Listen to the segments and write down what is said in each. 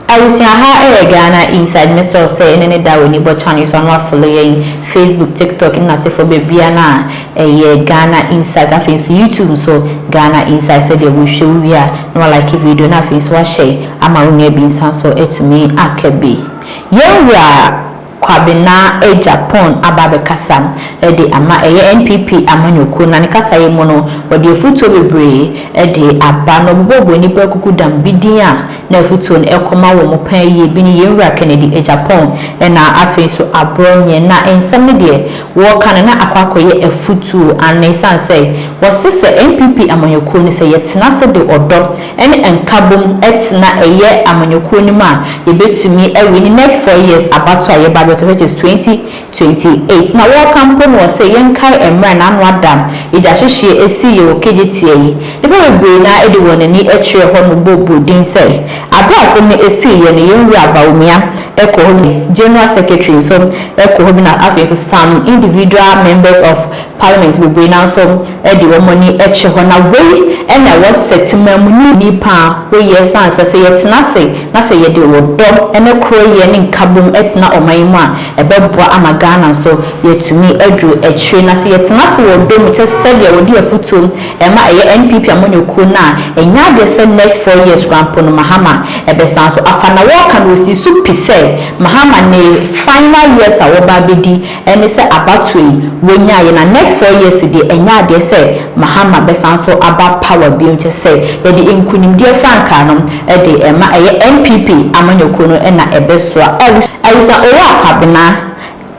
Abusua ha yɛ Ghana inside me sure sɛ ɛnɛ ne da w'ani bɔ channel yi so a na w'afollow yɛn Facebook, TikTok, ne n'asefoɔ bebia no a ɛyɛ Ghana inside afei nso YouTube nso Ghana inside sɛdeɛ wo hwɛ wo wie a na wa like video no afei nso wa share ama wo nua bi nsa nso atumi aka bi. Yɛn wura! Kwabena agya Pon aba abɛkasa de ama ɛyɛ NPP amanyɔkuo na ne kasaeɛ mu no, ɔde afutuo bebree de aba na ɔbobɔ ɔbɔniba akuku dam bi din a na afutuo no ɛkɔ ma wɔn mu paa yie bi ne Yɛn Wura Kennedy agya Pon na afei nso Aborɔnyɛ na nsɛm no deɛ Wɔka no na akɔ akɔyɛ afutuo anaa ɛsiane sɛ wɔse sɛ NPP amanyɔkuo no sɛ yɛtena ase de ɔdɔ ne nkabom tena ɛyɛ amanyɔkuo no mu a yɛbɛtumi awie ne next four years abatoɔ a yɛba abɛtɔ which is twenty twenty eight na wɔka mpo no wɔse yɛnkae ɛmerɛ na ano ada yɛgyahyehyeɛ ɛsii yɛwɔ kegyeteɛ yi nnipa bebree no ara de wɔn ani kyerɛɛ hɔ no bɔɔ din sɛ Aber a asɛm no esiiɛ no yɛn wura Bawumia kɔ hɔ bi, General Secretary nso kɔ hɔ bi na afei nso some individual members of Parliament bebree no ara nso de wɔn ani kyɛ hɔ na wei na ɛwɔ sɛ temanmuni ni paa wo yɛ san sɛ sɛ yɛ tena ase na sɛ yɛ de ɔdɔ ne koroyɛ ne nkabom tena ɔman yi mu a ɛbɛboa ama Ghana nso yɛatumi aduru akyire na sɛ yɛ tena ase wɔ ɔdɔ mu kyɛ sɛdeɛ wɔde afutuo Ɛma ɛyɛ NPP amanyɔkuo no a ɛnyɛ adeɛ sɛ next four years koraa mpo no Mahama bɛsan so afa na wɔka no ɔsii so pi sɛ Mahama ne final years a wɔba abɛdi ne sɛ abatoɔ yi wɔnyaeɛ na next four years deɛ ɛnyɛ adeɛ sɛ Mahama bɛsan so aba power bio kyɛ sɛ yɛde nkunimdie frankaa no de ɛma ɛyɛ NPP amanyɔkuo no na ɛbɛsoa. Awusa Owuah Kwabena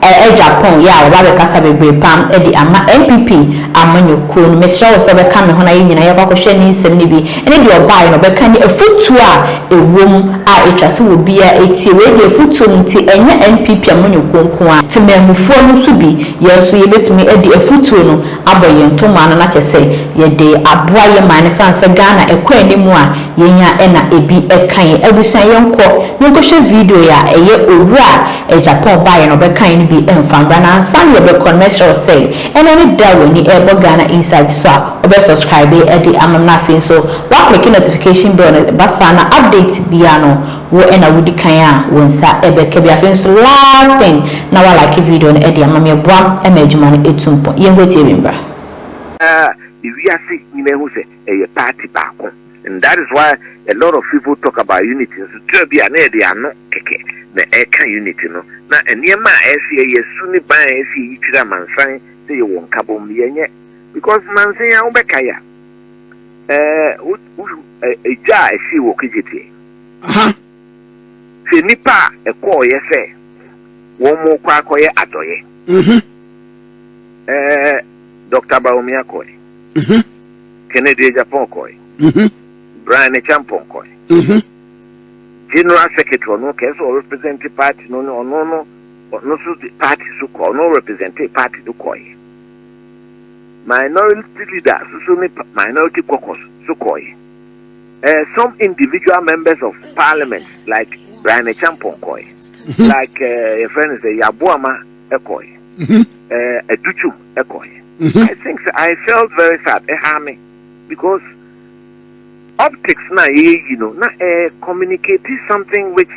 Ɛɛ Japan yɛ a waba abɛkasa bebree pam de ama NPP amanyɔkuo no. Mesrɛ wo sɛ wobɛka me ho na yɛn nyinaa yɛkɔ akɔhwɛ ne nsɛm no bi ne deɛ ɔbaeɛ no ɔbɛka ne afutuo a ɛwɔ mu a ɛtwa sɛ obiara tie. Wei deɛ afutuo no nti ɛnyɛ NPP amanyɔkuo nko ara, temanmufoɔ no nso bi yɛn nso yɛbɛtumi adi afutuo no abɔ yɛn tomaa no na kyerɛ sɛ yɛde aboa yɛn man no ɛsiane sɛ Ghana ɛkɔ anim a yɛn ara na ɛbi ɛka yɛn. Abusua yɛnkɔ na yɛnkɔhwɛ video yi a ɛyɛ Owura Agya Paul baeɛ no ɔbɛkaeɛ no bi mfa mbra na ansa na yɛbɛkɔ no mɛsrɛ wo sɛ ɛnɛ ne da a w'ani ɛrebɔ Ghana Insight so a wobɛ subscribe de ama me na afei nso woaclicke notification bell no ɛba saa na update biara no wo na wodi kan a wo nsa ɛbɛka bi afei nso last thing na woalike video no de ama me ɛboa ma adwuma no ɛtu mpɔn. Yɛnkɔ tie bi mbra. Na wiase nyinaa hu sɛ ɛyɛ party baako and that is why a lot of people talk about unity nso tira bi a na yɛde ano kɛkɛ na ɛka unity no na nneɛma a ɛsɛ yɛyɛ su ne ban a ɛsɛ yɛyi kyerɛ amansan sɛ yɛwɔ nkabom no yɛnyɛ because mansan a wobɛka yɛ a ɛgya a ɛhyee wɔ kegyeteɛ sɛ nnipa a ɛkɔɔyɛ sɛ wɔn mo kɔ akɔyɛ adɔyɛ mm-hmm. eh, Dr. Bawumia Koi. Kennedy Agyapong kɔe, Brian Acheampong kɔe, General Secretary ɔno kɛse sɛ ɔrepresente party no ne ɔno no ɔno nso de party so kɔ ɔno represente party no kɔe. Minority leader soso ne minority caucus so kɔe. Uh, some individual members of parliament like Brian Acheampong kɔe. Like uh, your friend is a Yabuama kɔe. Uh, Aduchum ɛkɔ yɛ mm-hmm. i think sɛ i felt very sad ɛha me because optics na yɛyɛ yi no na ɛ communicate something which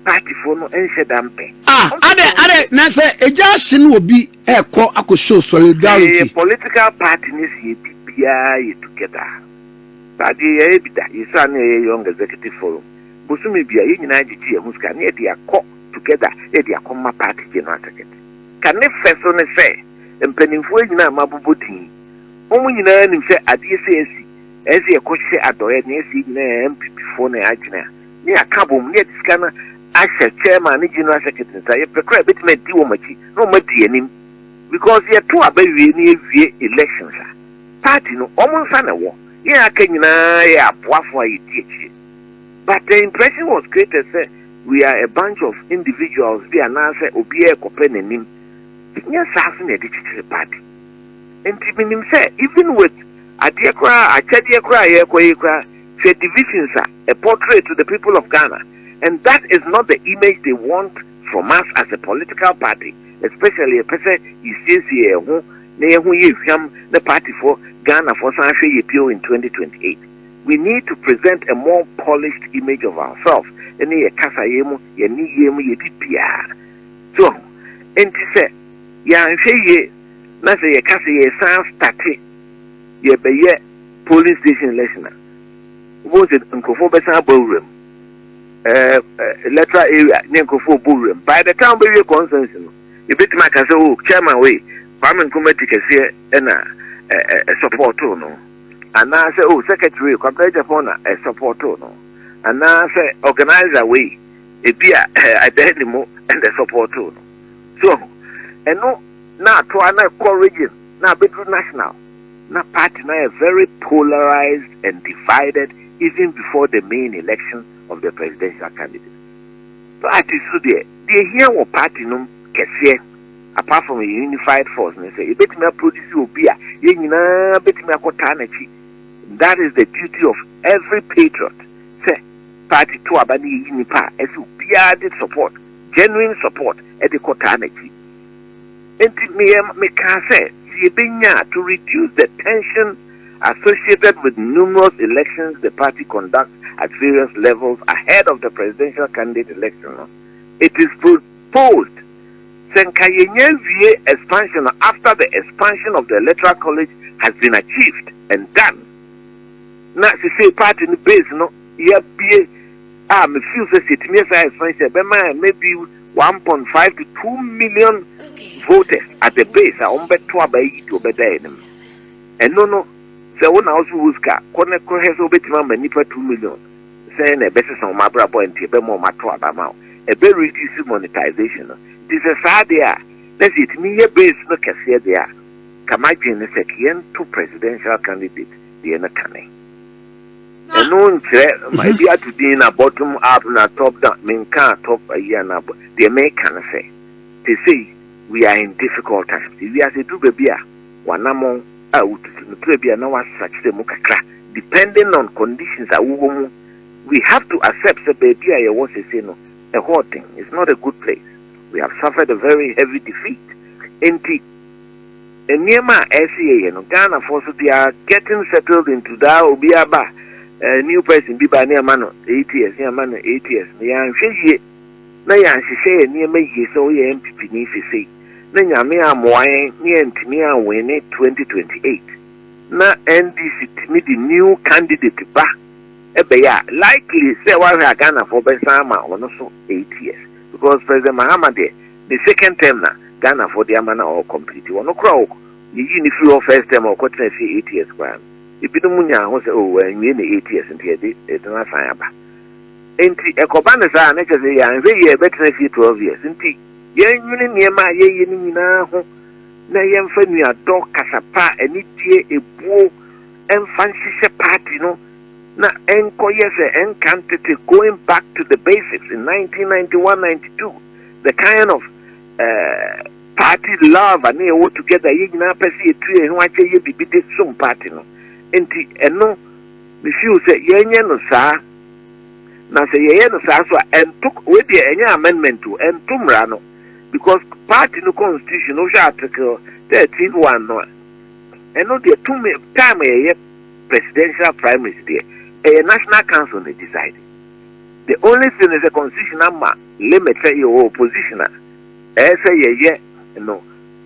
partyfoɔ no nhyɛ da mpɛ. ah adɛ adɛ na sɛ egya ahye no obi ɛkɔ akɔ show solidarity. ɛyɛ political party ne si ebi biara yɛ together baagye yɛyɛ bi da yɛsɛ ano yɛyɛ young executive forum bosome bia yɛn nyinaa gyegye yɛn ho sika ne yɛde akɔ together yɛde akɔ ma party general secretary. Ka ne fɛ so ne sɛ, Mpaninfoɔ nyina a mabobɔ din yi, mo mo nyinaa nim sɛ adeɛ sɛ asi, ɛɛsɛ yɛkɔ hyɛ adɔeɛ na yɛsɛ yɛ nyinaa yɛ NPP foɔ na yɛ adwene a ne yɛ aka abom ne yɛde sika no ahyɛ Chairman ne General Secretary nsa, yɛ pɛ koraa a yɛbɛtumi adi wɔn akyi na wɔn adi yɛ anim because yɛ to aba wie na yɛ wie elections a party no wɔn nsa na ɛwɔ, yɛn a aka nyinaa yɛ aboafoɔ a yɛ di akyire. But the impression was created sɛ we are a bunch of individuals bi anaasɛ obiara rekɔpɛ n'anim. Nyɛ saa nso na yɛde kyekyere party. Nti menim sɛ even with adeɛ koraa, akyɛdeɛ koraa a yɛrekɔ yi koraa, hwɛ divisions a ɛ portray to the people of Ghana and that is not the image they want from us as a political party especially yɛpɛ sɛ yɛsiesie yɛn ho na yɛn ho yɛ hwam na partyfoɔ Ghanafoɔ san ahwɛ yɛ bio in 2028. we need to present a more polished image of ourselves ɛne yɛ kasa yɛ mu yɛ ne yɛ mu yɛ bibiaa so ɛnti sɛ yɛanhwɛ yie na sɛ yɛ kasa yɛ san state yɛbɛyɛ polling station election a wobɛhu sɛ nkurɔfoɔ bɛsan abɔ awuram Eh, eh, electoral area ne nkurɔfoɔ bɔ wuram by the time bɛwie consensus no yɛbɛtumi aka sɛ o oh, chairman wei kwame nkrumah ti kɛseɛ ɛna eh, ɛsɔpɔɔtoo no anaasɛ oh secretary wei Kwabena Agyapong na ɛsɔpɔtoo no anaasɛ organizer wei ebi a ɛdan ne mu ɛna ɛsɔpɔtoo no so ho ɛno na atoa na ɛkɔ region na abɛduru national na party na yɛ very polarized and divided even before the main election of the presidential candidate party so deɛ deɛ hia wɔ party nom kɛseɛ apart from a unified force ne sɛ yɛbɛtumi aproduce obi a yɛn nyinaa bɛtumi akɔtaa n'akyi that is the duty of every patriot sɛ party to aba ne yɛyi nipa a ɛsɛ obiara de support genuine support ɛde kɔtaa n'akyi nti meyɛ mekaa sɛ sɛ yɛbɛnya to reduce the tension associated with numerous elections the party conducts at various levels ahead of the presidential candidate election it is Post, Sɛ nka yɛnya awie expansion no after the expansion of the electoral college has been achieved and done na sesei party no base no yɛabue a me feel sɛ sɛ yɛtumi yɛ saa expansion ɛbɛma maybe one point five to two million voters at the base a wɔbɛto aba yi de wɔbɛda yɛn anim ɛno no sɛ wo na wo so wo sika kɔ ne kɔhwɛ sɛ wobɛtumi ama nnipa two million sɛn na ɛbɛsesa wɔn abrabɔ a nti ɛbɛma wɔn ato aba ma wo. Ɛbɛ reduce monetization no. Nti sɛ saa deɛ a, na sɛ yɛtumi yɛ base no kɛseɛ deɛ a, nka m'adwene ne sɛ ka yɛnto presidential candidate deɛ no kane. Ɛno nkyerɛ ma ebi ato din na bottom up na top down, menkaa top ayi anaa bɔ, deɛ meka ne sɛ, te sei, we are in difficult times. Ewiase duru baabi a, W'anamɔn a wotutu no berɛ bi a na w'asakyerɛ mu kakra depending on conditions a wowɔ mu. We have to accept sɛ baabi a yɛwɔ seesei no ɛhɔ ɔden, it's not a good place. We have suffered a very heavy defeat enti nneɛma a ɛsɛ yɛyɛ no Ghanafoɔ so they are getting settled into that obiara ba a new person bi ba ne ɛma no eight years ne ɛma no eight years no yɛanhwɛ yie. na yɛanhyehyɛ yɛn nneɛma yie sɛ woyɛ NPP ni sesei na Nyame ammoa yɛn na yɛantumi anwene 2028 na NDC tumi de new candidate ba ɛbɛyɛ a likely sɛ woahwɛ a Ghanafoɔ bɛsan ama ɔno so 8 years because President Mahama deɛ ne second term na Ghanafoɔ de ama na ɔɔ complete ɔno koraa ɔk yɛyii no firi hɔ first term a ɔkɔtena fie 8 years koraa no ebinom nyaa ho sɛ oh wanwie ne 8 years nti yɛde yɛde no asan aba Enti ɛkɔba no saa a, na kyerɛ sɛ yɛanhwɛ yie a yɛbɛtena fie twelve years. Enti yɛnnwene nneɛma a yɛyɛ no nyinaa ho na yɛmfa nuadɔ, kasa pa, anidie, ebuo mfa nhyehyɛ party no na ɛnkɔyɛ sɛ ɛnka ntete, going back to the basics in nineteen ninety one, ninety two, the kind of uh, party love a na yɛwɔ together, yɛn nyinaa pɛ sɛ yɛtu yɛn ho akyɛ yɛ biribi de som party no. Enti ɛno, me feel sɛ yɛnyɛ no saa. na sɛ yɛyɛ no saa nso a ɛnto wei deɛ ɛnyɛ amendment o ɛnto mmara no because party no constitution no wohwɛ article thirteen one no a ɛno deɛ tumi time yɛyɛ presidential primaries deɛ ɛyɛ national council na decide the only thing is a constitution ama limit sɛ yɛwɔ opposition a ɛyɛ sɛ yɛyɛ no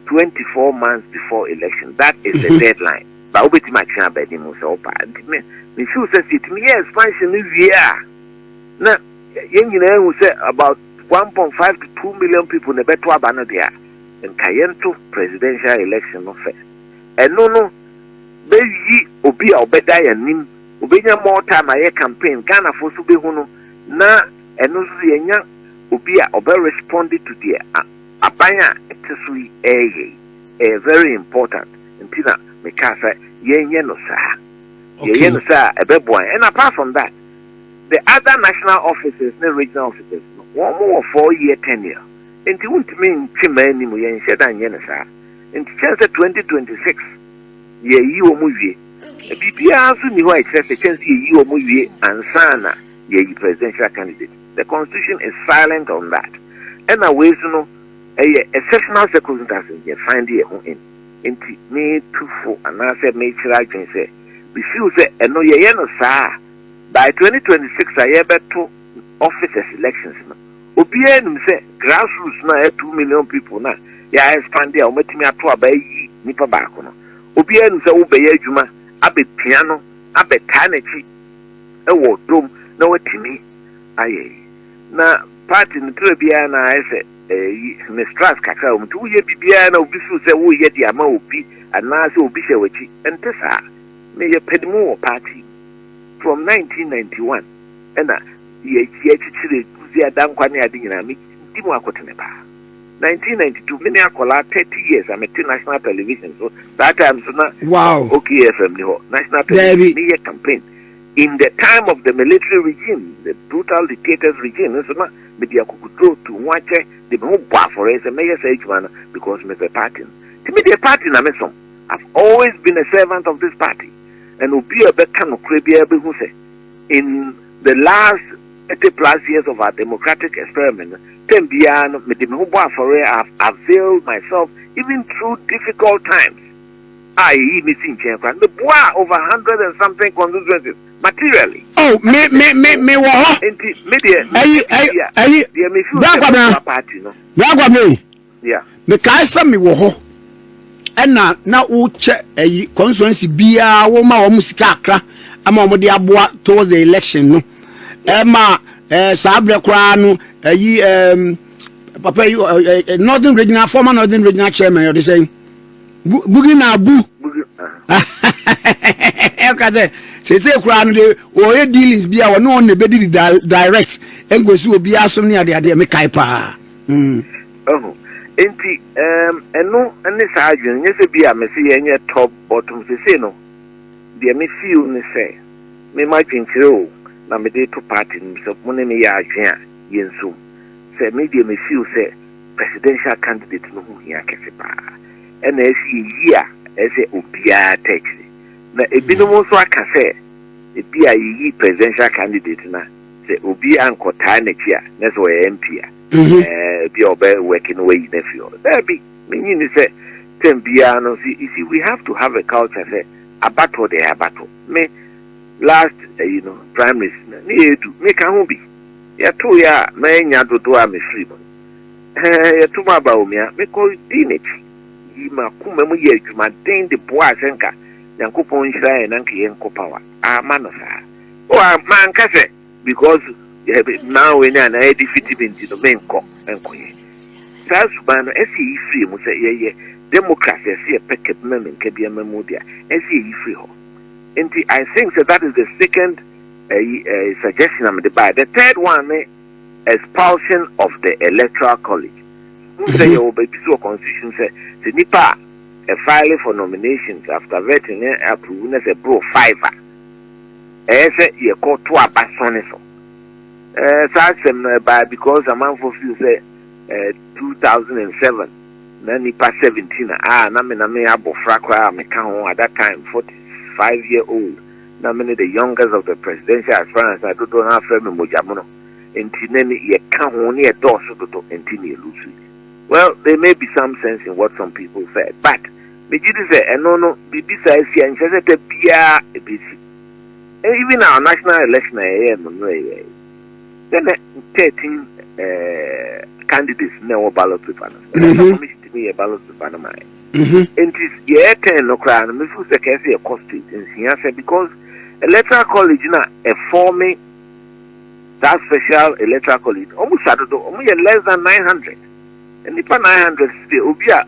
twenty four months before election that is the deadline ba wobɛtumi atwe aba anim sɛ wopa nti me me feel sɛ sɛ yɛtumi yɛ expansion no wie a na yɛn nyinaa hu sɛ about one point five to two million people na ɛbɛto aba no deɛ a nka yɛnto presidential election no fɛ ɛno no bɛyi obi a ɔbɛda yɛn anim obɛnya more time ayɛ campaign ghanafoɔ so bɛhu no na ɛno nso yɛnya obi a ɔbɛ respond to deɛ aban a ɛte so yi ɛreyɛ yi ɛyɛ very important nti na mekaa sɛ yɛnyɛ no saa yɛyɛ no saa a ɛbɛboa yɛn and apart from that the other national officers ne regional officers no wɔn mo wɔ four year tenure nti wontumi ntwe mmaa anim yɛnhyɛ da nyɛ no saa nti kyɛn sɛ 2026 yɛyi wɔn wie biribiara nso nni hɔ a ɛkyerɛ sɛ kyɛn sɛ yɛyi wɔn wie ansa na yɛyi presidential candidate the constitution is silent on that ɛna wei so no ɛyɛ exceptional circumstances yɛ find yɛ ho in nti metu fo anaasɛ mekyerɛ adwene sɛ mefiw sɛ ɛno yɛyɛ no saa by 2026 a yɛbɛto officers elections no obiara nim sɛ grassroots no a yɛ 2 million people no a yɛa expand a wɔatumi ato aba ayi nipa baako no obiara nim sɛ wobɛyɛ adwuma abɛpia no abɛtaa n'akyi ɛwɔ dom na watumi ayɛ yi na party no tra biara na ayɛ sɛ ɛyi eh, mistrust kakra wɔn nti woyɛ biribiara na obi suu sɛ woyɛ de ama obi anaasɛ obi hyɛ w'akyi ɛnte saa meyɛ pɛdimu wɔ party from 1991 ɛna yɛakyikyire guzi adankwa ne ade nyinaa medi mu akotene paa 1992 mene akɔlaa 30 years a mete national television so saa time so na wow. okfm ni hɔ national television meyɛ campaign In the time of the military regime, the brutal dictator's regime, nso na mede akokoduro tu ho akyɛ de me ho bɔ afɔreɛ sɛ mɛyɛ saa adwuma no because mepɛ party no. Nti me deɛ party na mesom. I've always been a servant of this party and obi a ɔbɛka nokorɛ biara bɛhu sɛ in the last 30 plus years of our democratic experiment no, term biara no mede me ho bɔ afɔreɛ, I've availed myself even through difficult times. a yeyii no sii nkyɛn koraa no, mibuaa over hundred and something constituencies materially. Oh, me, me, me, me wɔ hɔ. Nti, me deɛ, ayi, ayi, ayi, deɛ me fi sɛ mɛboa party no. Bragwa me. Yeah. Mekae sɛ me wɔ hɔ. Ɛna na wokyɛ ayi constituency biara wɔma wɔn sika akra ama wɔn de aboa towards the election no. Ɛma ɛɛ saa abirɛ koraa no ayi ɛɛm papa yi northern regional former northern regional chairman ɔde sɛn. bugi na abu ɛka sɛ sese koraa no de wɔyɛ dealings bi a wɔne wɔn na ɛbɛdi direct ɛnkɔsi obiara so ne adeadeɛ mekae paa mm. nti ɛno ne saa adwene nyɛ sɛ bi a mese yɛnyɛ top bottom sese no deɛ mefeel ne sɛ mema adwenkyerɛ o na mede to party no sɛ mo ne meyɛ adwene a yɛnsum sɛ me deɛ mefeel sɛ presidential candidate no ho hia kɛse paa. Ɛna ɛsi eyi a ɛsɛ obiara tɛ akyiri. Na ebinom nso aka sɛ ebi a yeyi presidential candidate na sɛ obi ankɔtaa n'akyi a na sɛ ɔyɛ MP a ebi a ɔbɛ work no wayi no afi hɔ. Daabi, menyi ni sɛ term biara no nso you see we have to have a culture sɛ abatoɔ deɛ ɛyɛ abatoɔ. Me last ɛyi no primaries na ne yɛ edu meka ho bi. Yɛtoeɛ a, mannya dodoɔ a mefiri mu. Ɛɛ, yɛto mu aba o, mea. Mekɔdii n'akyi, yii m'akoma mu yɛɛ adwumaden de boaa sɛ anka Nyankopɔn nhyira yɛn na anka yɛnkɔ Power. Amma no saa. O, a, manka sɛ because na wei ne anaa ɛdefiti me nti no, menkɔ, menkɔyɛ. Saa suban no, ɛsɛ yɛyi firi mu sɛ yɛyɛ democracy, ɛsɛ yɛpɛ kabima me nkabiama mu de a, ɛsɛ yɛyi firi hɔ. Enti, I think sɛ that is the second. Ɛyi ɛɛ suggestion a mede baeɛ. The third one ne expulsion of the electoral college. Mo sɛ mm-hmm. yɛ wɔ baabi so wɔ constitution sɛ sɛ nipa a ɛfile for nominations after vetting ne approve ne sɛ bro five a ɛyɛ sɛ yɛkɔ to aba so ne so. Ɛɛ eh, saa asɛm no ɛbaa because amanfo feel sɛ ɛɛ eh, two thousand and seven na nipa seventeen a ah, na me na me abɔfra koraa a meka ho at that time forty five year old. na mene the youngest of the presidential aspirants a dodoɔ no ara frɛ me mogyamono nti na me yɛ ka ho ne yɛ dɔɔso dodo nti me lose yɛ. Well there may be some sense in what some people said but me gye di sɛ ɛno no biribi saa asi a nkyerɛ sɛ da biara ɛbɛsi. Even our national election a yɛyɛɛ no mmerɛ yɛɛ yi sɛ na 13 eh, candidates na ɛwɔ ballot paper no so ɛna commission tumi yɛ ballot paper no ma yɛ. Mm-hmm. Nti yɛ ten no koraa no me feel sɛ kɛse yɛ kɔ state nsia sɛ because electoral college na a form that special electoral college ɔmo sa dodo ɔmo yɛ less than nine hundred nipa nine hundred sɛ obi a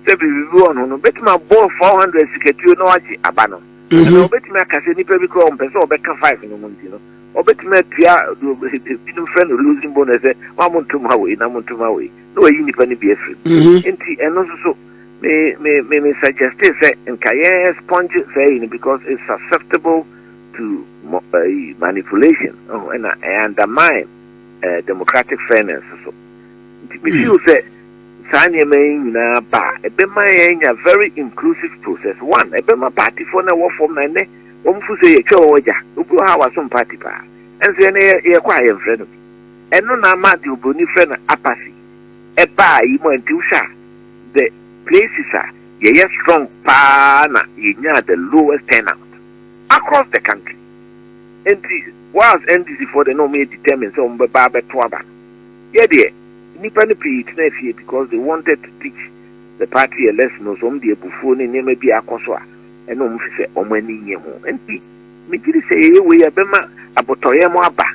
sɛ biribi bi wɔ no no betumi abɔ four hundred sikatuo na wagye aba no ɛna mm-hmm. obetumi aka sɛ nipa bi koraa ɔmpɛ sɛ ɔbɛka five no mu nti no ɔbɛtumi atua binom fɛ no losing bonus sɛ wɔn a mo ntom ha wɔ yi na mo ntom ha wɔ yi. na wayi nnipa no bi afiri mu nti ɛno nso so me me me me suggest sɛ nka yɛ sponge saa yi no because it's susceptible to uh, manipulation oh, and uh, undermine uh, democratic fairness so nti me feel sɛ saa nneɛma yi nyinaa ba a ɛbɛma yɛanya very inclusive process one ɛbɛma partyfoɔ no ɛwɔ fam na ɛnɛ wɔn fo sɛ yɛtwa wɔn agya obi wɔ ha a wasom party paa ɛnso yɛn yɛkɔ a yɛmfrɛ no bi ɛno na ama deɛ obroni frɛ no apathy ɛbaa yi mu a nti wohwɛ a the places a yɛyɛ strong paa na yɛnyaa the lowest turnout across the country nti whilst NDC foɔ deɛ na wɔyɛ determined sɛ wɔn bɛba abɛto aba no yɛ deɛ nnipa no pii tena fie because they wanted to teach the party a lesson no so wɔn deɛ abufuo ne nneɛma bi akɔ so a ɛna wɔn fi sɛ wɔn ani nye ho nti megyiri sɛ yɛyɛ wei a ɛbɛma abotɔyɛ mo aba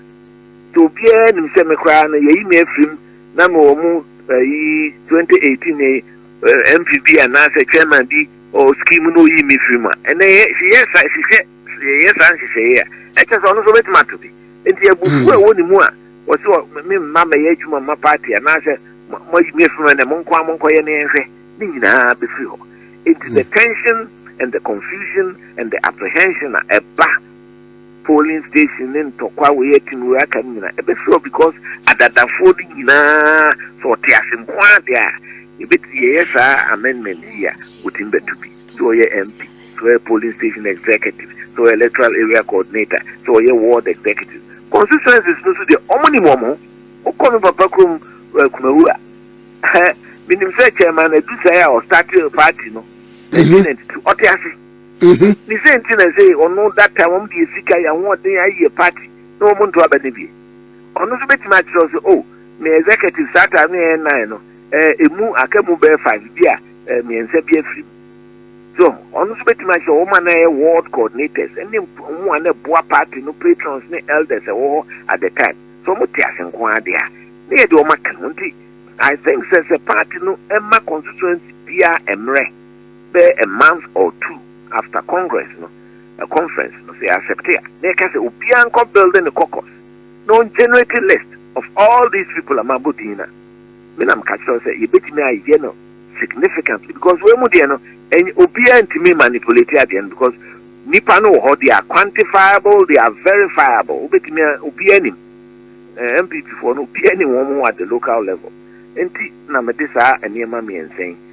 nti obiara nim sɛ me koraa no yɛyi me afiri mu na me wɔ mu ayi 2018 ne MPB anaasɛ chairman bi ɔ scheme na oyi me firi mu a ɛnɛ yɛ yɛ sa hyehyɛ yɛ saa nhyehyɛeɛ a ɛkyɛ sɛ ɔno nso bɛtumi ato bi nti abufuo a ɛwɔ ne mu a wɔsɛ me mma mɛyɛ adwuma ma party anaasɛ moayi me afiri mu ɛnɛ mo nko a monkɔyɛ ne yɛnhwɛ ne nyinaa bɛfiri hɔ nti the tension and the confusion and the apprehension a ɛba polling station ne ntɔkwa wei atim wei aka no nyinaa ɛbɛfiri hɔ because adadafoɔ no nyinaa sɛ ɔte ase nko ara deɛ a yɛbɛti yɛyɛ saa amendment yi a wɔtumi bɛto bi sɛ ɔyɛ mp sɛ ɔyɛ polling station executive sɛ ɔyɛ electoral area coordinator sɛ ɔyɛ ward executive constituencies no so deɛ ɔmo nim wɔn ho wokɔ me papa kurom eh, kumawu a menim sɛ chairman adu sɛ a ɔstate party no 1992 mhm. ɔte ase Mhm. Ne sɛ nti na sɛ ɔno that time wɔn deɛ sika yɛ ahoɔden ayɛ party na wɔn nto aba ne bie ɔno nso bɛtumi akyerɛw sɛ oh me executive saa time no yɛ nine no ɛɛ emu aka mu bɛyɛ five bi a ɛɛ mmiɛnsa bi afiri mu so ɔno nso bɛtumi akyerɛ wɔn a na ɛyɛ ward coordinators ɛne mp- wɔn a na ɛboa party no patrons ne elders ɛwɔ hɔ at the time so wɔn te ase nko ara deɛ a ne yɛ deɛ wɔn aka no nti i think sɛ sɛ party no ɛma constituency biara mmerɛ. Bɛyɛ a month or two after congress no, ɛ conference no, sɛ yɛ accepte a, na yɛka sɛ obiara nkɔ builde ne caucus na ɔn generate list of all these people a mabɔ din no a, me na meka kyerɛ wo sɛ yɛbɛtumi ayɛ no significantly because wei mu deɛ no, ɛny obiara ntumi mmanipulate adeɛ no because nnipa no wɔ hɔ, they are quantifiable, they are verifiable, wobɛtumi a, obiara nim, eh, NPP foɔ no, obiara nim wɔn at the local level. Enti na mede saa nneɛma mmiɛnsa yi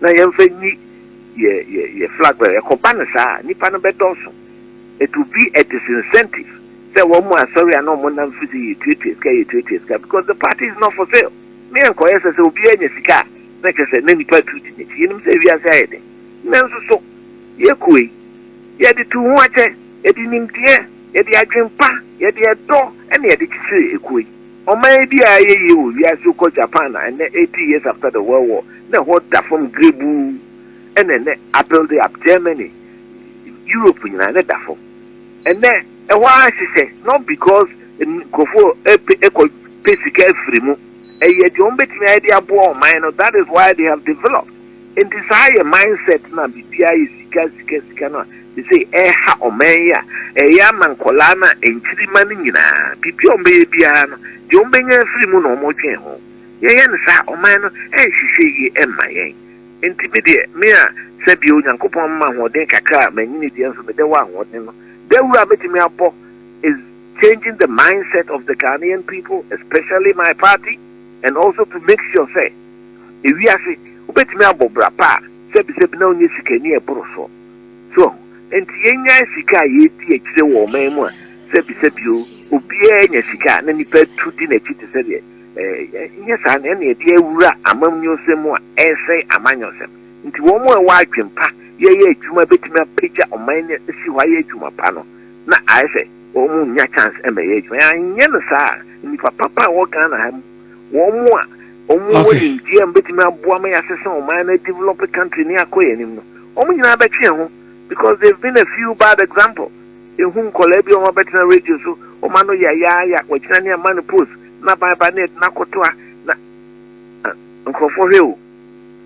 na yɛmfa nyi yɛ yɛ yɛ flag bɛn. Ɛkɔba no saa a, nnipa no bɛdɔɔso. It will be a disincentive sɛ wɔn asɔre a na wɔn nam fi sɛ yɛtuatua sika yɛtuatua sika because the party is not for sale. Me ɛnkɔyɛ sɛ sɛ obiara nya sika a na kyerɛ sɛ na nnipa atu di n'akyi. Yɛnim sɛ wiase ayɛ den. Nanso so yɛkuo yi yɛde tuu ho akyɛ, yɛde nimdeɛ, yɛde adwene pa, yɛde ɛdɔ na yɛde kyekyere ekuo yi. Ɔman bi a ayɛ yie wɔ wiase yi kɔ Japan a ɛnnɛ eighty years after the world war na ɛhɔ da fam grebuu ɛna ɛnnɛ abuilde up Germany Europe nyinaa na ɛda fam ɛnnɛ ɛhɔ ara hyehyɛ not because nkurɔfoɔ ɛpɛ ɛkɔ pɛ sika afiri mu ɛyɛ deɛ wɔn bɛtumi ayɛ de aboa ɔman no that is why they have developed Nti saa yɛ mindset no a biribiara yɛ sika sika sika no a sesei ɛreha ɔman yi a ɛyɛ ama nkwadaa no a nkyirima no nyinaa biribiara a wɔbɛyɛ biara no deɛ wɔbɛnya afiri mu na wɔdwen ho. Yɛyɛ no saa ɔman no ɛnhwehwɛ yie mma yɛn. Nti me deɛ me a sɛbio Nyankopɔn mma ahoɔden kakra a manyini deɛ nso meda wɔ ahoɔden no dawuro a mɛtumi abɔ is changing the mindset of the Ghanaian people especially my party and also to make sure sɛ Ewiase, wobɛtumi abɔ bra pa a, sɛbisɛbi na wonyɛ sikani a ɛboro so. So ahu? Enti yɛnnyae sika a yɛredi akyire wɔ ɔman mu a sɛbisɛbi o, obiara nya sika a na nnipa atu di n'akyi te sɛ deɛ ɛɛ, nyɛ saa na ɛnna yɛde awura amamnyɔsɛm mu a ɛresɛe amanyɔsɛm. Enti wɔn a ɛwɔ adwene pa yɛyɛ adwuma bɛtumi apagya ɔman no asi hɔ ayɛ adwuma pa no na ayɛ sɛ wɔn nnya chance mmɛyɛ adwuma. Yɛanyɛ no saa a, nnipa papa a ɛwɔ Ghana ha mu, wɔn mu a wɔn mu wɔ nimdeɛ a mbɛtumi aboa ma yɛasesa ɔman na develop country ne akɔ yɛn anim no wɔn nyinaa bɛtwe yɛn ho because they've been a few bad example ehu nkɔlaa bi a wɔn abɛtena radio so wɔn ano yayaaya wɔgyina ne ama no post na ban ba ne ɛdena kɔtoa na nkurɔfoɔ hwɛ o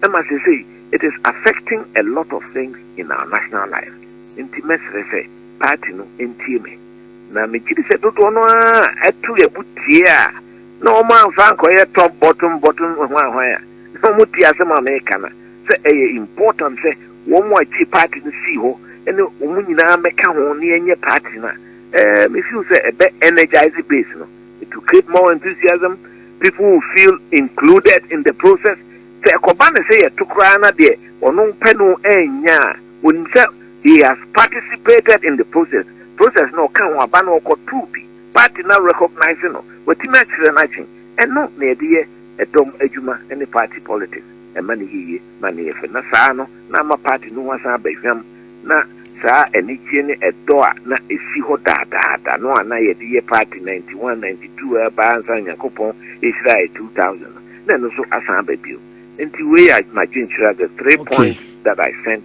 ɛma sesei it is affecting a lot of things in our national life nti mɛsrɛ sɛ party no ntie me na megye di sɛ dodoɔ no a ɛto yɛ bo tie a na wɔn amfa ankɔyɛ top bottom bottom hwanhwan a na wɔn ti ase ma meka no sɛ ɛyɛ important sɛ wɔn mu a gye party no sii hɔ ne wɔn nyinaa mɛka ho ne ɛnyɛ party no a ɛɛ me feel sɛ ɛbɛ energize base no to create more enthusiasm people will feel included in the process sɛ ɛkɔba ne sɛ yɛto koraa na deɛ ɔno pɛ no ɛnya a wɔnim sɛ he has participated in the process process na ɔka ho aba na ɔkɔtoo bi Party no recognise no, watumi akyerɛ n'adwene. Ɛno na yɛde yɛ ɛdɔm adwuma ne party politics. Ɛma no yɛ yie ma no yɛ fɛ na saa no na ama party no ho asan aba hwam na saa anigyeɛ ne ɛdɔ a na ɛsi hɔ daadaada no a na yɛde yɛ party ninety one, ninety two a ɛbaa ansa na Nyankopɔn ɛhyiraeɛ two thousand no na ɛno nso asan aba bio. Nti wei yɛ m'adwenkyerɛ the three points that I sent.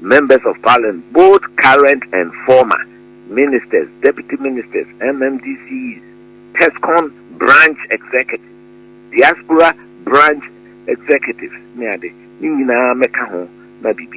Members of Parliament, both current and former, Ministers, Deputy Ministers, MMDCEs, TESCON Branch Executives, Diaspora Branch Executives ne ade, ne nyinaa mmɛka ho na biribi.